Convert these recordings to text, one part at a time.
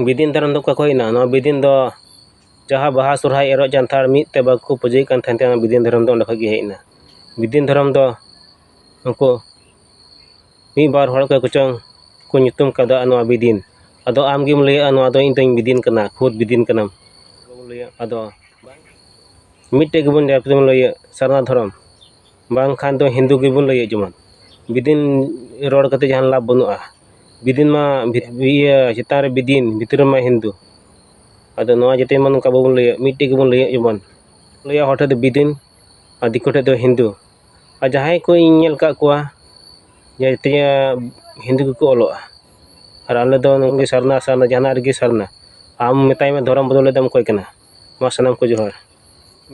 ᱵᱤᱫᱤᱱ ᱫᱷᱚᱨᱚᱢ ᱫᱚ ᱚᱠᱟ ᱠᱷᱚᱡ ᱦᱮᱡ ᱮᱱᱟ ᱱᱚᱣᱟ ᱵᱤᱫᱤᱱ ᱫᱚ ᱡᱟᱦᱟᱸ ᱵᱟᱦᱟ ᱥᱚᱨᱦᱟᱭ ᱮᱨᱚᱜ ᱡᱟᱱᱛᱷᱟᱲ ᱢᱤᱫ ᱛᱮ ᱵᱟᱠᱚ ᱯᱩᱡᱟᱹᱭᱮᱫ ᱠᱟᱱ ᱛᱟᱦᱮᱱ ᱛᱮ ᱚᱱᱟ ᱵᱤᱫᱤᱱ ᱫᱷᱚᱨᱚᱢ ᱫᱚ ᱚᱸᱰᱮ ᱠᱷᱚᱡ ᱜᱮ ᱦᱮᱡ ᱮᱱᱟ ᱵᱤᱫᱤᱱ ᱫᱷᱚᱨᱚᱢ ᱫᱚ ᱱᱩᱠᱩ ᱢᱤᱫ ᱵᱟᱨ ᱦᱚᱲ ᱚᱠᱚᱭ ᱠᱚᱪᱚᱝ ᱠᱚ ᱧᱩᱛᱩᱢ ᱠᱟᱣᱫᱟ ᱱᱚᱣᱟ ᱵᱤᱫᱤᱱ ᱟᱫᱚ ᱟᱢ ᱜᱮᱢ ᱞᱟᱹᱭᱟ ᱱᱚᱣᱟ ᱫᱚ ᱤᱧ ᱫᱚᱧ ᱵᱤᱫᱤᱱ ᱠᱟᱱᱟ ᱠᱷᱩᱫᱽ ᱵᱤᱫᱤᱱ ᱠᱟᱱᱟᱢ ᱟᱫᱚ ᱢᱤᱫᱴᱮᱡ ᱜᱮᱵᱚᱱ ᱞᱟᱹᱭᱟ ᱥᱟᱨᱱᱟ ᱫᱷᱚᱨᱚᱢ ᱵᱟᱝᱠᱷᱟᱱ ᱫᱚ ᱦᱤᱱᱫᱩ ᱜᱮᱵᱚᱱ ᱞᱟᱹᱭᱟ ᱡᱮᱢᱚᱱ ᱵᱤᱫᱤᱱ ᱨᱚᱲ ᱠᱟᱛᱮᱫ ᱡᱟᱦᱟᱱ ᱞᱟᱵᱽ ᱵᱟᱹᱱᱩᱜᱼᱟ ᱵᱤᱫᱤᱱ ᱢᱟ ᱤᱭᱟᱹ ᱪᱮᱛᱟᱱ ᱨᱮ ᱵᱤᱫᱤᱱ ᱵᱷᱤᱛᱨᱤ ᱨᱮᱢᱟ ᱦᱤᱱᱫᱩ ᱟᱫᱚ ᱱᱚᱣᱟ ᱡᱟᱛᱮ ᱡᱮᱢᱚᱱ ᱱᱚᱝᱠᱟ ᱵᱟᱵᱚᱱ ᱞᱟᱹᱭᱟ ᱢᱤᱫᱴᱮᱱ ᱜᱮᱵᱚᱱ ᱞᱟᱹᱭᱟ ᱡᱮᱢᱚᱱ ᱞᱟᱹᱭᱟ ᱦᱚᱲ ᱴᱷᱮᱱ ᱫᱚ ᱵᱤᱫᱤᱱ ᱟᱨ ᱫᱤᱠᱩ ᱴᱷᱮᱱ ᱫᱚ ᱦᱤᱱᱫᱩ ᱟᱨ ᱡᱟᱦᱟᱸᱭ ᱠᱚ ᱤᱧ ᱧᱮᱞ ᱟᱠᱟᱫ ᱠᱚᱣᱟ ᱡᱟᱛᱮ ᱦᱤᱱᱫᱩ ᱜᱮᱠᱚ ᱚᱞᱚᱜᱼᱟ ᱟᱨ ᱟᱞᱮ ᱫᱚ ᱥᱟᱨᱱᱟ ᱥᱟᱨᱱᱟ ᱡᱟᱦᱟᱱᱟᱜ ᱨᱮᱜᱮ ᱥᱟᱨᱱᱟ ᱟᱢ ᱢᱮᱛᱟᱭ ᱢᱮ ᱫᱷᱚᱨᱚᱢ ᱵᱚᱫᱚᱞ ᱞᱟᱹᱜᱤᱫ ᱫᱚᱢ ᱚᱠᱚᱭ ᱠᱟᱱᱟ ᱢᱟ ᱥᱟᱱᱟᱢ ᱠᱚ ᱡᱚᱦᱟᱨ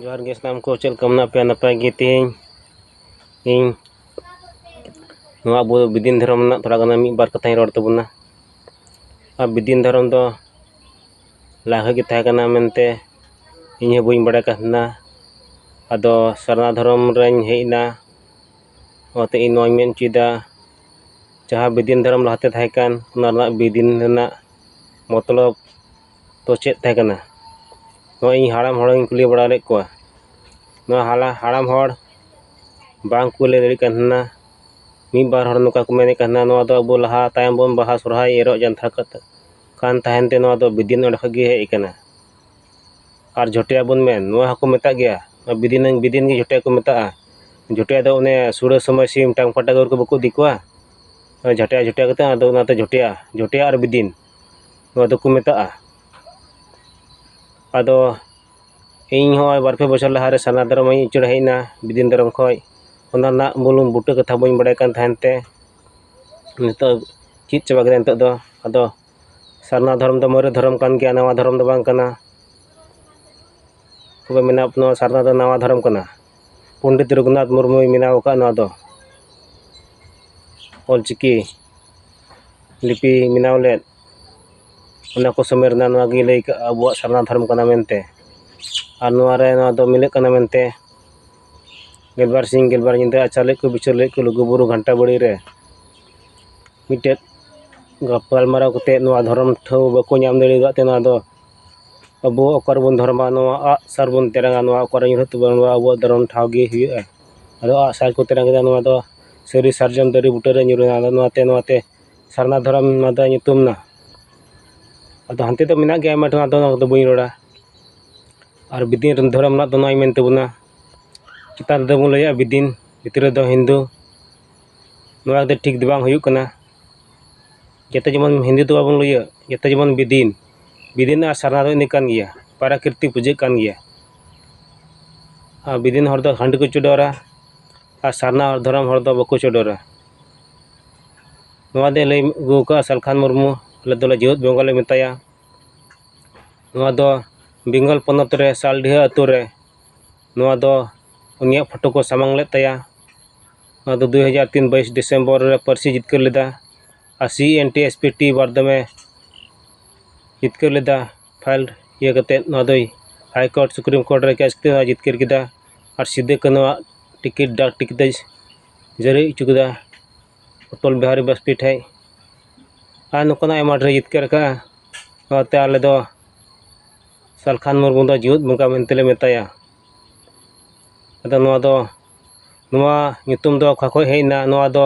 ᱡᱚᱦᱟᱨ ᱜᱮ ᱥᱟᱱᱟᱢ ᱠᱚ ᱪᱮᱫ ᱞᱮᱠᱟ ᱢᱮᱱᱟᱜ ᱯᱮᱭᱟ ᱱᱟᱯᱟᱭ ᱜᱮ ᱛᱮᱦᱮᱧ ᱤᱧ ᱱᱚᱣᱟ ᱟᱵᱚ ᱵᱤᱫᱤᱱ ᱫᱷᱚᱨᱚᱢ ᱨᱮᱱᱟᱜ ᱛᱷᱚᱲᱟ ᱜᱟᱱ ᱢᱤᱫ ᱵᱟᱨ ᱠᱟᱛᱷᱟᱧ ᱨᱚᱲ ᱛᱟᱵᱚᱱᱟ ᱟᱨ ᱵᱤᱫᱤᱱ ᱫᱷᱚᱨᱚᱢ ᱫᱚ ᱞᱟᱦᱟ ᱜᱮ ᱛᱟᱦᱮᱸ ᱠᱟᱱᱟ ᱢᱮᱱᱛᱮ ᱤᱧ ᱦᱚᱸ ᱵᱟᱹᱧ ᱵᱟᱲᱟᱭ ᱠᱟᱱ ᱛᱟᱦᱮᱱᱟ ᱟᱫᱚ ᱥᱟᱨᱱᱟ ᱫᱷᱚᱨᱚᱢ ᱨᱮᱧ ᱦᱮᱡ ᱮᱱᱟ ᱚᱱᱟᱛᱮ ᱤᱧ ᱱᱚᱣᱟᱧ ᱢᱮᱱ ᱦᱚᱪᱚᱭᱮᱫᱟ ᱡᱟᱦᱟᱸ ᱵᱤᱫᱤᱱ ᱫᱷᱚᱨᱚᱢ ᱞᱟᱦᱟᱛᱮ ᱛᱟᱦᱮᱸ ᱠᱟᱱ ᱚᱱᱟ ᱨᱮᱱᱟᱜ ᱵᱤᱫᱤᱱ ᱨᱮᱱᱟᱜ ᱢᱚᱛᱞᱚᱵ ᱫᱚ ᱪᱮᱫ ᱛᱟᱦᱮᱸ ᱠᱟᱱᱟ ᱱᱚᱜᱼᱚᱸᱭ ᱤᱧ ᱦᱟᱲᱟᱢ ᱦᱚᱲ ᱤᱧ ᱠᱩᱞᱤ ᱵᱟᱲᱟ ᱞᱮᱫ ᱠᱚᱣᱟ ᱱᱚᱣᱟ ᱦᱟᱞᱟ ᱦᱟᱲᱟᱢ ᱦᱚᱲ ᱵᱟᱝ ᱠᱚ ᱞᱟᱹᱭ ᱫᱟᱲᱮᱭᱟᱜ ᱠᱟᱱ ᱛᱟᱦᱮᱱᱟ ᱢᱤᱫ ᱵᱟᱨ ᱦᱚᱲ ᱱᱚᱝᱠᱟ ᱠᱚ ᱢᱮᱱᱮᱫ ᱠᱟᱱ ᱛᱟᱦᱮᱱᱟ ᱱᱚᱣᱟ ᱫᱚ ᱟᱵᱚ ᱞᱟᱦᱟ ᱛᱟᱭᱚᱢ ᱵᱚᱱ ᱵᱟᱦᱟ ᱥᱚᱨᱦᱟᱭ ᱮᱨᱚᱜ ᱡᱟᱱᱛᱷᱟᱲ ᱠᱟᱛᱮᱫ ᱠᱟᱱ ᱛᱟᱦᱮᱱ ᱛᱮ ᱱᱚᱣᱟ ᱫᱚ ᱵᱤᱫᱤᱭᱟᱹ ᱱᱟᱲᱤ ᱠᱷᱚᱡ ᱜᱮ ᱦᱮᱡ ᱠᱟᱱᱟ ᱟᱨ ᱡᱷᱚᱴᱭᱟ ᱵᱚᱱ ᱢᱮᱱ ᱱᱚᱣᱟ ᱦᱚᱸᱠᱚ ᱢᱮᱛᱟᱜ ᱜᱮᱭᱟ ᱟᱨ ᱵᱤᱫᱤᱱ ᱵᱤᱫᱤᱱ ᱜᱮ ᱡᱷᱚᱴᱭᱟ ᱠᱚ ᱢᱮᱛᱟᱜᱼᱟ ᱡᱷᱚᱴᱭᱟ ᱫᱚ ᱚᱱᱮ ᱥᱩᱲᱟᱹ ᱥᱚᱢᱚᱭ ᱥᱤᱢ ᱴᱟᱝ ᱯᱟᱴᱟᱠ ᱨᱮ ᱵᱟᱠᱚ ᱤᱫᱤ ᱠᱚᱣᱟ ᱡᱷᱟᱴᱭᱟ ᱡᱷᱚᱴᱭᱟ ᱠᱟᱛᱮᱫ ᱟᱫᱚ ᱚᱱᱟᱛᱮ ᱡᱷᱚᱴᱭᱟ ᱡᱷᱚᱴᱭᱟ ᱟᱨ ᱵᱤᱫᱤᱱ ᱱᱚᱣᱟ ᱫᱚᱠᱚ ᱢᱮᱛᱟᱜᱼᱟ ᱟᱫᱚ ᱤᱧ ᱦᱚᱸ ᱵᱟᱨ ᱯᱮ ᱵᱚᱪᱷᱚᱨ ᱞᱟᱦᱟ ᱨᱮ ᱥᱟᱨᱱᱟ ᱫᱷᱚᱨᱚᱢ ᱤᱧ ᱩᱪᱟᱹᱲ ᱦᱮᱡ ᱮᱱᱟ ᱵᱤᱫᱤᱱ ᱫᱷᱚᱨᱚᱢ ᱠᱷᱚᱡ ᱚᱱᱟ ᱨᱮᱱᱟᱜ ᱢᱩᱞ ᱵᱩᱴᱟᱹ ᱠᱟᱛᱷᱟ ᱵᱟᱹᱧ ᱵᱟᱲᱟᱭ ᱠᱟᱱ ᱛᱟᱦᱮᱱ ᱛᱮ ᱱᱤᱛᱚᱜ ᱪᱮᱫ ᱪᱟᱵᱟ ᱠᱮᱫᱟ ᱱᱤᱛᱚᱜ ᱫᱚ ᱟᱫᱚ ᱥᱟᱨᱱᱟ ᱫᱷᱚᱨᱚᱢ ᱫᱚ ᱢᱟᱨᱮ ᱫᱷᱚᱨᱚᱢ ᱠᱟᱱ ᱜᱮᱭᱟ ᱱᱟᱣᱟ ᱫᱷᱚᱨᱚᱢ ᱫᱚ ᱵᱟᱝ ᱠᱟᱱᱟ ᱛᱚᱵᱮ ᱢᱮᱱᱟ ᱱᱚᱣᱟ ᱥᱟᱨᱱᱟ ᱫᱚ ᱱᱟᱣᱟ ᱫᱷᱚᱨᱚᱢ ᱠᱟᱱᱟ ᱯᱚᱱᱰᱤᱛ ᱨᱚᱜᱷᱩᱱᱟᱛᱷ ᱢᱩᱨᱢᱩᱭ ᱵᱮᱱᱟᱣ ᱟᱠᱟᱫ ᱱᱚᱣᱟ ᱫᱚ ᱚᱞ ᱪᱤᱠᱤ ᱞᱤᱯᱤ ᱵᱮᱱᱟᱣ ᱞᱮᱫ ᱚᱱᱟ ᱠᱚ ᱥᱚᱢᱚᱭ ᱨᱮᱱᱟᱜ ᱱᱚᱣᱟ ᱜᱮ ᱞᱟᱹᱭ ᱠᱟᱜᱼᱟ ᱟᱵᱚᱣᱟᱜ ᱥᱟᱨᱱᱟ ᱫᱷᱚᱨᱚᱢ ᱠᱟᱱᱟ ᱢᱮᱱᱛᱮ ᱟᱨ ᱱᱚᱣᱟ ᱨᱮ ᱱᱚᱣᱟ ᱫᱚ ᱢᱤᱞᱟᱹᱜ ᱠᱟᱱᱟ ᱢᱮᱱᱛᱮ ᱜᱮᱞᱵᱟᱨ ᱥᱤᱧ ᱜᱮᱞᱵᱟᱨ ᱧᱤᱫᱟᱹ ᱟᱪᱟᱨ ᱞᱮᱫ ᱠᱚ ᱵᱤᱪᱟᱹᱨ ᱞᱮᱫ ᱠᱚ ᱞᱩᱜᱩᱼᱵᱩᱨᱩ ᱜᱷᱟᱱᱴᱟ ᱵᱟᱲᱮ ᱨᱮ ᱢᱤᱫᱴᱮᱱ ᱜᱟᱯᱟᱞᱢᱟᱨᱟᱣ ᱠᱟᱛᱮᱫ ᱱᱚᱣᱟ ᱫᱷᱚᱨᱚᱢ ᱴᱷᱟᱶ ᱵᱟᱠᱚ ᱧᱟᱢ ᱫᱟᱲᱮ ᱟᱠᱟᱫ ᱛᱮ ᱱᱚᱣᱟ ᱫᱚ ᱟᱵᱚ ᱚᱠᱟ ᱨᱮᱵᱚᱱ ᱫᱷᱚᱨᱚᱢᱟ ᱱᱚᱣᱟ ᱟᱜᱼᱥᱟᱨ ᱵᱚᱱ ᱛᱮᱨᱟᱝᱟ ᱱᱚᱣᱟ ᱚᱠᱟᱨᱮ ᱧᱩᱨᱦᱟᱹᱜ ᱛᱟᱵᱚᱱᱟ ᱱᱚᱣᱟ ᱟᱵᱚᱣᱟᱜ ᱫᱷᱚᱨᱚᱢ ᱴᱷᱟᱶ ᱜᱮ ᱦᱩᱭᱩᱜᱼᱟ ᱟᱫᱚ ᱟᱸᱜ ᱥᱟᱨ ᱠᱚ ᱛᱮᱨᱟᱝ ᱠᱮᱫᱟ ᱱᱚᱣᱟ ᱫᱚ ᱥᱟᱹᱨᱤ ᱥᱟᱨᱡᱚᱢ ᱫᱟᱨᱮ ᱵᱩᱴᱟᱹ ᱨᱮ ᱧᱩᱨ ᱮᱱᱟ ᱟᱫᱚ ᱱᱚᱣᱟᱛᱮ ᱱᱚᱣᱟᱛᱮ ᱥᱟᱨᱱᱟ ᱫᱷᱚᱨᱚᱢ ᱱᱚᱣᱟ ᱫᱚ ᱧᱩᱛᱩᱢ ᱮᱱᱟ ᱟᱫᱚ ᱦᱟᱱᱛᱮ ᱫᱚ ᱢᱮᱱᱟᱜ ᱜᱮᱭᱟ ᱟᱭᱢᱟ ᱰᱷᱮᱨ ᱟᱫᱚ ᱚᱱᱟ ᱠᱚᱫᱚ ᱵᱟᱹᱧ ᱨᱚᱲᱟ ᱟᱨ ᱵᱤᱫᱤᱱ ᱨᱮᱱ ᱫᱷᱚᱨᱚᱢ ᱨᱮᱱᱟᱜ ᱫᱚ ᱱᱚᱣᱟᱧ ᱢᱮᱱ ᱛᱟᱵᱚᱱᱟ ᱪᱮᱛᱟᱱ ᱨᱮᱫᱚ ᱵᱚᱱ ᱞᱟᱹᱭᱟ ᱵᱤᱫᱤᱱ ᱵᱷᱤᱛᱨᱤ ᱨᱮᱫᱚ ᱦᱤᱱᱫᱩ ᱱᱚᱣᱟ ᱫᱚ ᱴᱷᱤᱠ ᱫᱚ ᱵᱟᱝ ᱦᱩᱭᱩᱜ ᱠᱟᱱᱟ ᱡᱚᱛᱚ ᱡᱮᱢᱚᱱ ᱦᱤᱱᱫᱩ ᱫᱚ ᱵᱟᱵᱚᱱ ᱞᱟᱹᱭᱟ ᱡᱚᱛᱚ ᱡᱮᱢᱚᱱ ᱵᱤᱫᱤᱱ ᱵᱤᱫᱤᱱ ᱟᱨ ᱥᱟᱨᱱᱟ ᱫᱚ ᱤᱱᱟᱹ ᱠᱟᱱ ᱜᱮᱭᱟ ᱯᱨᱟᱠᱨᱤᱛᱤᱠ ᱯᱩᱡᱟᱹ ᱠᱟᱱ ᱜᱮᱭᱟ ᱟᱨ ᱵᱤᱫᱤᱱ ᱦᱚᱲ ᱫᱚ ᱦᱟᱺᱰᱤ ᱠᱚ ᱪᱚᱰᱚᱨᱟ ᱟᱨ ᱥᱟᱨᱱᱟ ᱫᱷᱚᱨᱚᱢ ᱦᱚᱲ ᱫᱚ ᱵᱟᱠᱚ ᱪᱚᱰᱚᱨᱟ ᱱᱚᱣᱟ ᱫᱚᱭ ᱞᱟᱹᱭ ᱟᱹᱜᱩ ᱠᱟᱜᱼᱟ ᱥᱟᱞᱠᱷᱟᱱ ᱢᱩᱨᱢᱩ ᱟᱞᱮ ᱫᱚ ᱡᱮᱣᱮᱫ ᱵᱮᱝᱜᱚᱞ ᱞᱮ ᱢᱮᱛᱟᱭᱟ ᱱᱚᱣᱟ ᱫᱚ ᱵᱮᱝᱜᱚᱞ ᱯᱚᱱᱚᱛ ᱨᱮ ᱥᱟᱞᱰᱤᱦᱟᱹ ᱟᱛᱳ ᱨᱮ ᱱᱚᱣᱟ ᱫᱚ ᱩᱱᱤᱭᱟᱜ ᱯᱷᱳᱴᱳ ᱠᱚ ᱥᱟᱢᱟᱝ ᱞᱮᱫ ᱛᱟᱭᱟ ᱱᱚᱣᱟ ᱫᱚ ᱫᱩ ᱦᱟᱡᱟᱨ ᱛᱤᱱ ᱵᱟᱭᱤᱥ ᱰᱤᱥᱮᱢᱵᱚᱨ ᱨᱮ ᱯᱟᱹᱨᱥᱤ ᱡᱤᱛᱠᱟᱹᱨ ᱞᱮᱫᱟ ᱟᱨ C N T S P T ᱵᱟᱨᱫᱷᱚᱢᱮ ᱡᱤᱛᱠᱟᱹᱨ ᱞᱮᱫᱟ ᱯᱷᱟᱭᱤᱞ ᱤᱭᱟᱹ ᱠᱟᱛᱮᱫ ᱱᱚᱣᱟ ᱫᱚᱭ ᱦᱟᱭ ᱠᱳᱨᱴ ᱥᱩᱯᱨᱤᱢ ᱠᱳᱨᱴ ᱨᱮ ᱠᱮᱥ ᱠᱟᱛᱮᱫ ᱦᱚᱸᱭ ᱡᱤᱛᱠᱟᱹᱨ ᱠᱮᱫᱟ ᱟᱨ ᱥᱤᱫᱩ ᱠᱟᱹᱱᱦᱩ ᱟᱜ ᱴᱤᱠᱤᱴ ᱰᱟᱠ ᱴᱤᱠᱤᱴ ᱫᱚᱭ ᱡᱟᱹᱨᱤ ᱦᱚᱪᱚ ᱠᱮᱫᱟ ᱚᱴᱚᱞ ᱵᱤᱦᱟᱨᱤ ᱵᱟᱥᱯᱮᱭᱤ ᱴᱷᱮᱱ ᱟᱨ ᱱᱚᱝᱠᱟᱱᱟᱜ ᱟᱭᱢᱟ ᱰᱷᱮᱨ ᱮ ᱡᱤᱛᱠᱟᱹᱨ ᱠᱟᱜᱼᱟ ᱚᱱᱟᱛᱮ ᱟᱞᱮ ᱫᱚ ᱥᱟᱞᱠᱷᱟᱱ ᱢᱩᱨᱢᱩ ᱫᱚ ᱡᱮᱣᱮᱫ ᱵᱚᱸᱜᱟ ᱢᱮᱱᱛᱮ ᱞᱮ ᱢᱮᱛᱟᱭᱟ ᱟᱫᱚ ᱱᱚᱣᱟ ᱫᱚ ᱱᱚᱣᱟ ᱧᱩᱛᱩᱢ ᱫᱚ ᱚᱠᱟ ᱠᱷᱚᱱ ᱦᱮᱡ ᱮᱱᱟ ᱱᱚᱣᱟ ᱫᱚ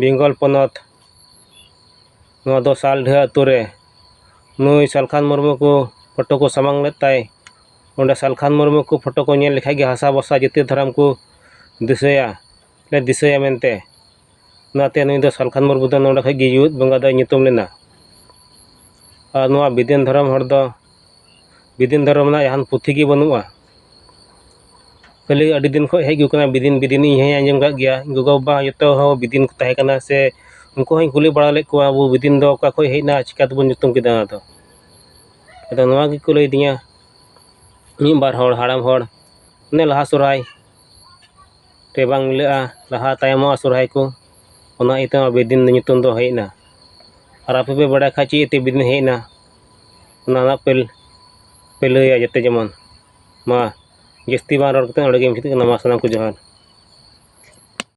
ᱵᱮᱝᱜᱚᱞ ᱯᱚᱱᱚᱛ ᱱᱚᱣᱟ ᱫᱚ ᱥᱟᱞᱰᱷᱟᱹ ᱟᱹᱛᱩ ᱨᱮ ᱱᱩᱭ ᱥᱟᱞᱠᱷᱟᱱ ᱢᱩᱨᱢᱩ ᱠᱚ ᱯᱷᱳᱴᱳ ᱠᱚ ᱥᱟᱢᱟᱝ ᱞᱮᱫ ᱛᱟᱭ ᱚᱸᱰᱮ ᱥᱟᱞᱠᱷᱟᱱ ᱢᱩᱨᱢᱩ ᱠᱚ ᱯᱷᱳᱴᱳ ᱠᱚ ᱧᱮᱞ ᱞᱮᱠᱷᱟᱱ ᱜᱮ ᱦᱟᱥᱟ ᱵᱷᱟᱥᱟ ᱡᱟᱹᱛᱤ ᱫᱷᱚᱨᱚᱢ ᱠᱚ ᱫᱤᱥᱟᱹᱭᱟ ᱥᱮ ᱫᱤᱥᱟᱹᱭᱟ ᱢᱮᱱᱛᱮ ᱚᱱᱟᱛᱮ ᱱᱩᱭ ᱫᱚ ᱥᱟᱞᱠᱷᱟᱱ ᱢᱩᱨᱢᱩ ᱫᱚ ᱱᱚᱰᱮ ᱠᱷᱚᱱ ᱜᱮ ᱡᱮᱣᱮᱫ ᱵᱚᱸᱜᱟ ᱫᱚᱭ ᱧᱩᱛᱩᱢ ᱞᱮᱱᱟ ᱟᱨ ᱱᱚᱣᱟ ᱵᱤᱫᱮᱱ ᱫᱷᱚᱨᱚᱢ ᱦᱚᱲ ᱫᱚ ᱵᱤᱫᱤᱱ ᱫᱷᱚᱨᱚᱢ ᱨᱮᱱᱟᱜ ᱡᱟᱦᱟᱱ ᱯᱩᱛᱷᱤ ᱜᱮ ᱵᱟᱹᱱᱩᱜᱼᱟ ᱠᱷᱟᱹᱞᱤ ᱟᱹᱰᱤ ᱫᱤᱱ ᱠᱷᱚᱱ ᱦᱮᱡ ᱟᱹᱜᱩ ᱠᱟᱱᱟ ᱵᱤᱫᱤᱱ ᱵᱤᱫᱤᱱ ᱤᱧ ᱦᱚᱸᱧ ᱟᱸᱡᱚᱢ ᱠᱟᱜ ᱜᱮᱭᱟ ᱤᱧ ᱜᱚᱜᱚᱼᱵᱟᱵᱟ ᱡᱚᱛᱚ ᱦᱚᱲ ᱵᱤᱫᱤᱱ ᱠᱚ ᱛᱟᱦᱮᱸ ᱠᱟᱱᱟ ᱥᱮ ᱩᱱᱠᱩ ᱦᱚᱸᱧ ᱠᱩᱞᱤ ᱵᱟᱲᱟ ᱞᱮᱫ ᱠᱚᱣᱟ ᱟᱵᱚ ᱵᱤᱫᱤᱱ ᱫᱚ ᱚᱠᱟ ᱠᱷᱚᱱ ᱦᱮᱡ ᱮᱱᱟ ᱟᱨ ᱪᱤᱠᱟᱹ ᱛᱮᱵᱚᱱ ᱧᱩᱛᱩᱢ ᱠᱮᱫᱟ ᱚᱱᱟᱫᱚ ᱟᱫᱚ ᱱᱚᱣᱟ ᱜᱮᱠᱚ ᱞᱟᱹᱭ ᱟᱹᱫᱤᱧᱟ ᱢᱤᱫ ᱵᱟᱨ ᱦᱚᱲ ᱦᱟᱲᱟᱢ ᱦᱚᱲ ᱚᱱᱮ ᱞᱟᱦᱟ ᱥᱚᱦᱨᱟᱭ ᱛᱮ ᱵᱟᱝ ᱢᱤᱞᱟᱹᱜᱼᱟ ᱞᱟᱦᱟ ᱛᱟᱭᱚᱢᱚᱜᱼᱟ ᱥᱚᱦᱨᱟᱭ ᱠᱚ ᱚᱱᱟ ᱤᱭᱟᱹᱛᱮ ᱵᱤᱫᱤᱱ ᱧᱩᱛᱩᱢ ᱫᱚ ᱦᱮᱡ ᱮᱱᱟ ᱟᱨ ᱟᱯᱮ ᱯᱮ ᱵᱟᱲᱟᱭ ᱠᱷᱟᱱ ᱪᱮᱫ ᱤᱭᱟᱹᱛᱮ ᱵᱤᱫᱤᱱ ᱦᱮᱡ ᱮᱱᱟ ᱚᱱᱟ ᱨᱮᱱᱟᱜ ᱯᱮ ᱯᱮ ᱞᱟᱹᱭᱟ ᱡᱟᱛᱮ ᱡᱮᱢᱚᱱ ᱢᱟ ᱡᱟᱹᱥᱛᱤ ᱵᱟᱝ ᱨᱚᱲ ᱠᱟᱛᱮᱫ ᱚᱸᱰᱮ ᱜᱮ ᱢᱩᱪᱟᱹᱫ ᱠᱟᱱᱟ ᱢᱟ ᱥᱟᱱᱟᱢ ᱠᱚ ᱡᱚᱦᱟᱨ